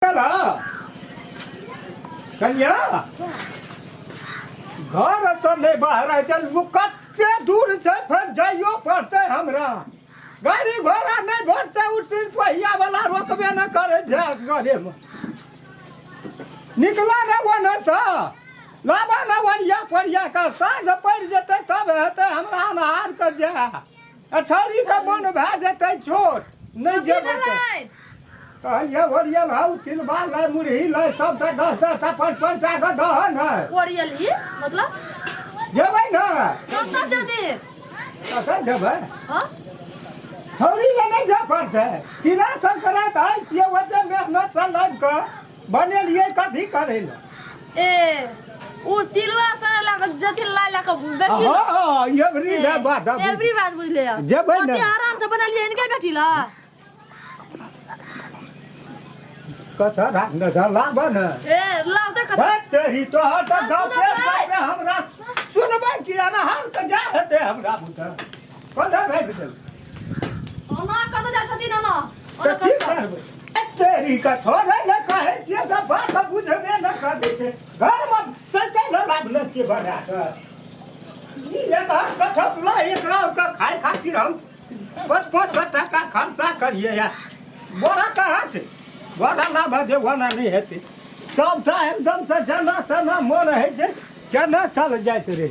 चला कन्या घर से नहीं बाहर आए चल वो कत्ते दूर से फिर जाइयो पड़ते हमरा गाड़ी घोड़ा नहीं घोड़ते उठ सिर पहिया वाला रोकबे न करे झास गले में निकला न वन से लाबा न वरिया परिया का साँझ पड़ जेते तब हेते हमरा अनहार कर जा अछौरी के मन भए जेतै छोट नहि की जेबै तऽ। भेलै कहलियै ओरियल हौ तिलबा लै मुरही लै सबटा दस दस टा पाँच पाँच टा के दहन है ओरियल ही मतलब जेबै ने कतऽ जदी कतऽ जेबै हँ छौरी ले नहि जाय पड़तै तिला संक्रान्त आइ छियै ओते मेहनत से लाबि कऽ बनेलियै कथी करै लए ए ओ तिलवा सने लग जथिन लाय लग बेटी हाँ हाँ ये बड़ी ले बात अब एवरी बात बुझले है जब है ना। पति आराम से बनलिए इनके बेटी ला कथा राखने था लाबा न ए लाव देख भाई तेरी तो हर तक गाँव के सुनबै। हमरा सुनबै कि अनहार के जा हेतै हमरा बुझल कोन दा भाग गेल ओना कतऽ जाइ छथिन ओना तऽ की करबै तेरी का थोड़े न कहे छियै तऽ बात बुझबे न करै छै घरमे सटे न लागले छियै बना कऽ ई एक हाथ कठत ला एकरा ओकरा खाय खातिर हम पाँच पाँच सए टाका खर्चा करियै या बड़ा कहाँ छै बड़ा ना भजे वना नहि हेतै सभटा एकदमसँ जेना तेना मोन होइ छै केना चल जाइत रहै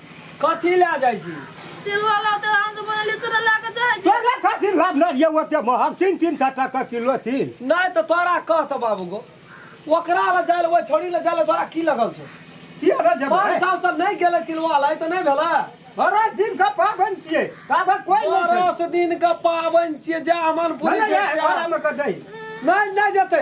कथी लए जाइ छी तिलवा लाते हम तो बनेली चूड़ा ला के जाय छी तोरा खातिर लाभना ये ओते महग तीन तीन सए टाका किलो तिल नहि तऽ तोरा कह तऽ बाबू गो ओकरा लए जाय लए ओहि छोड़ी लए जाय लए तोरा की लगल छौ किएरा जेबै पाँच साल से नहि गेलै तिलवा लए तऽ नहि भेलै बड़ा दिन का पाबनि छियै ताबे कोइ नहि छै दस दिन के पाबनि छियै जा मन पूरी नहि, के नहि, चाह। घरमे कऽ दै। नहि नहि जेतै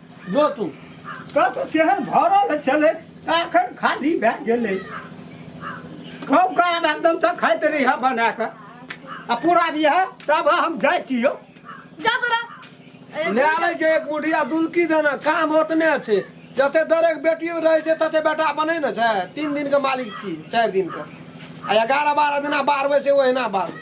जो तू कब केहन भरल छलै आ एखन खाली भए गेलै कब का आब एकदम तऽ खाइत रही है बना कऽ आ पूरा भी है तब हम जाइ छी यौ जा तोरा ए, ले आबै छै एक मुठिया दुलकी देना काम ओतने छै जते दरेक बेटी रहै छै तते बेटा बनै ने छै तीन दिन के मालिक छी चारि दिन के आ एगारह बारह दिना बारबै छै ओहिना बारबै